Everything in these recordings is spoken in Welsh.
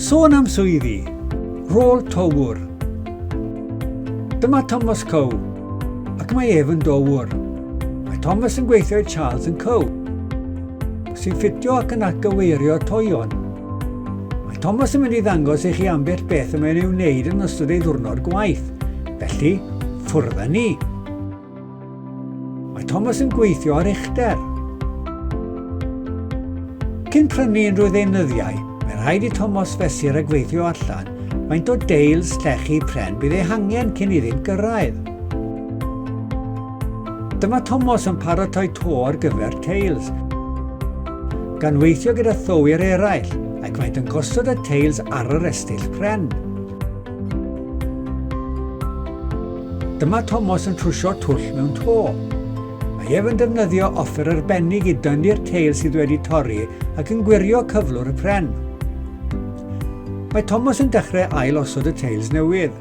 Sôn am swyddi, rôl towr. Dyma Thomas Cow, ac mae ef yn dowr. Mae Thomas yn gweithio i Charles yn Cow, sy'n ffitio ac yn atgyweirio toion. Mae Thomas yn mynd i ddangos i chi ambell beth y mae'n ei wneud yn ystod ei ddwrnod gwaith. Felly, ffwrdd â ni! Mae Thomas yn gweithio ar uchder. Cyn prynu unrhyw ddeunyddiau, mae rhaid i Thomas fesur a gweithio allan faint o deils llechi pren bydd ei hangen cyn iddynt gyrraedd. Dyma Thomas yn paratoi to ar gyfer teils, gan weithio gyda thywir eraill ac maent yn gosod y teils ar yr estyll pren. Dyma Tomos yn trwsio twll mewn to. Mae ef yn defnyddio offer arbennig i dynnu'r teil sydd wedi torri ac yn gwirio cyflwr y pren. Mae Tomos yn dechrau ail osod y teils newydd.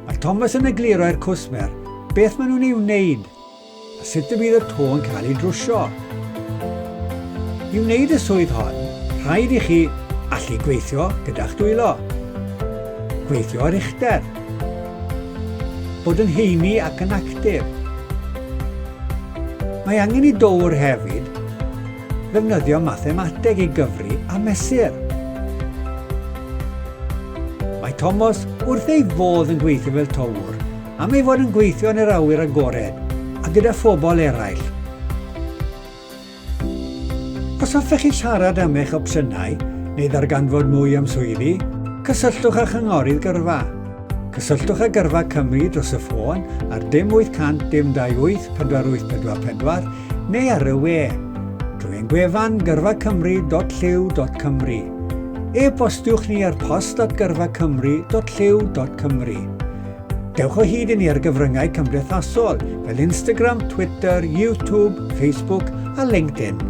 Mae Thomas yn egluro'r cwsmer beth maen nhw'n ei wneud A sut y bydd y to yn cael ei drwsio? I wneud y swydd hon, rhaid i chi allu gweithio gyda'ch dwylo, gweithio ar uchder, bod yn heini ac yn actif. Mae angen i dowr hefyd ddefnyddio mathemateg i gyfri a mesur. Mae Tomos wrth ei fodd yn gweithio fel towr Am ei fod yn gweithio yn yr awyr agored a gyda phobl eraill. Os hoffech chi siarad am eich opsiynau neu ddarganfod mwy am swyddi, cysylltwch â Chynghorydd Gyrfa. Cysylltwch â Gyrfa Cymru dros y ffôn ar dim 800 dim 28 4844 neu ar y we drwy ein gwefan gyrfacymru.llyw.cymru. E-bostiwch ni ar post at gyrfacymru.llyw.cymru. Dewch o hyd i ni ar gyfryngau cymdeithasol fel Instagram, Twitter, YouTube, Facebook a LinkedIn.